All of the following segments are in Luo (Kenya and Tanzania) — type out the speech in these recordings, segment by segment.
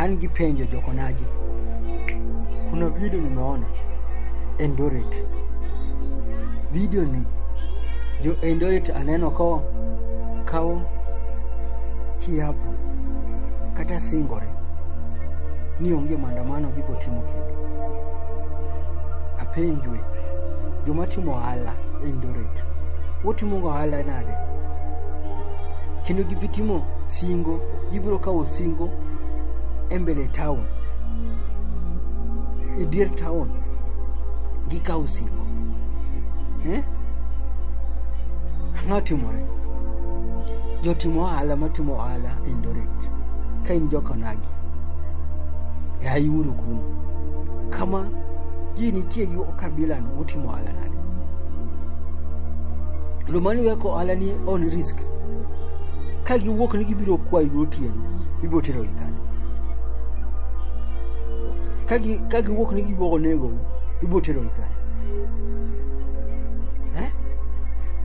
An gi penjo jokonaji, kuna video nimeona Eldoret, video ni jo Eldoret aneno ko kawo kiapo kata singore ni onge maandamano gibo timo kendo. Apenjwe joma timo ohala Eldoret, utimo ohala nade kendo gibitimo singo gibiro kawo singo e mbele town e dier town gikawo singo eh? ang'o timore jotimo ohala matimo ohala e ndoret ka in jokonagi e ayiuru kuno kama ji nitie gi kabilano utimo ohala nade lomani weko ohala ni on risk ka giwuok ni gibiro kwayi gotieno ibiro terogi kanye ka gi- ka giwuok ni gibiro nego ibiro terogi kanye Eh?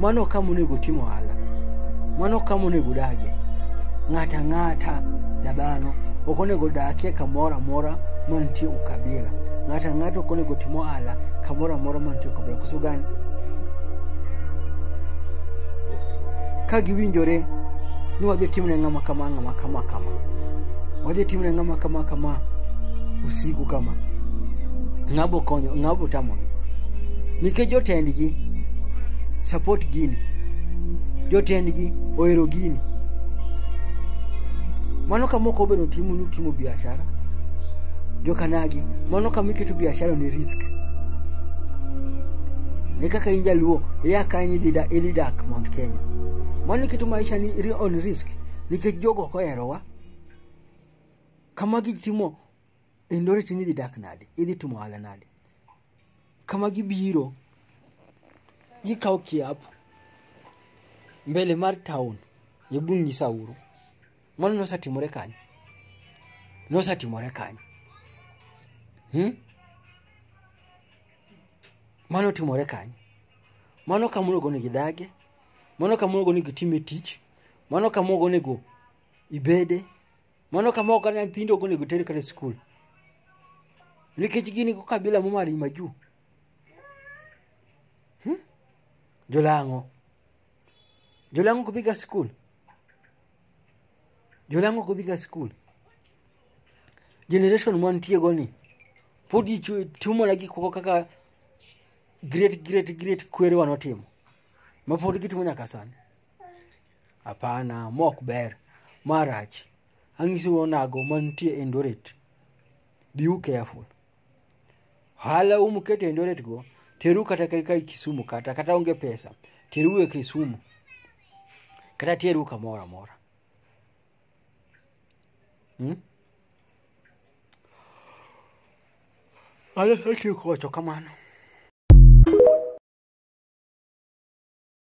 mano kama onego tim ohala mano kama onego udagie ng'ata ng'ata jadhano ok onego dakie kamoro amora mantie ukabila ng'ata ng'ata ok onego tim ohala kamoro amora mantie ukabila koso gani ka giwinjore ni wadhi timne ng'ama kama ng'ama kama kama wadhi timne ng'ama kama kama usiku kama ng'abo konyo ng'abo tamogi nikech jotendgi support gini jotendgi ohero gini mano kama ok obedo timo ni utimo biashara jokanagi mano kama iketo biashara ni risk ni kaka in jaluo iya kanyo idhi da- idhi dak Mount Kenya. Mano keto maisha ni ri- on risk nikech jogo ok oherowa. Kama gitimo endoreti ni idhi dak nade, idhi timo ohala nade. Kama gibiro gikawo kiap mbele mar town gibung' gi sauro. Mano nosetimore kanye? Nosetimore kanye? Hmm? mano timore kanye mano kama onego onego idagie mano kama onego onego itime tich mano kama onego onego ibede mano kama ok kata nyithindo ok onego ter kata e skul nikech gin go kabila momari majuu hmm? jolang'o jolang'o ok dhiga skul jolang'o ok odhiga skul generation mwantiego ni pod ji chu- tumona gik moko kaka great great great kwerewa notimo ma pod gitimo nyaka sani hapana ma ok ber marach ang'isou onago mantie endoret be you careful Hala umu kete Eldoret go, teru kata ka kai Kisumu kata kata onge pesa, teru e Kisumu. Kata teru kamoro amora. Hmm? Ala sati kocho kamano.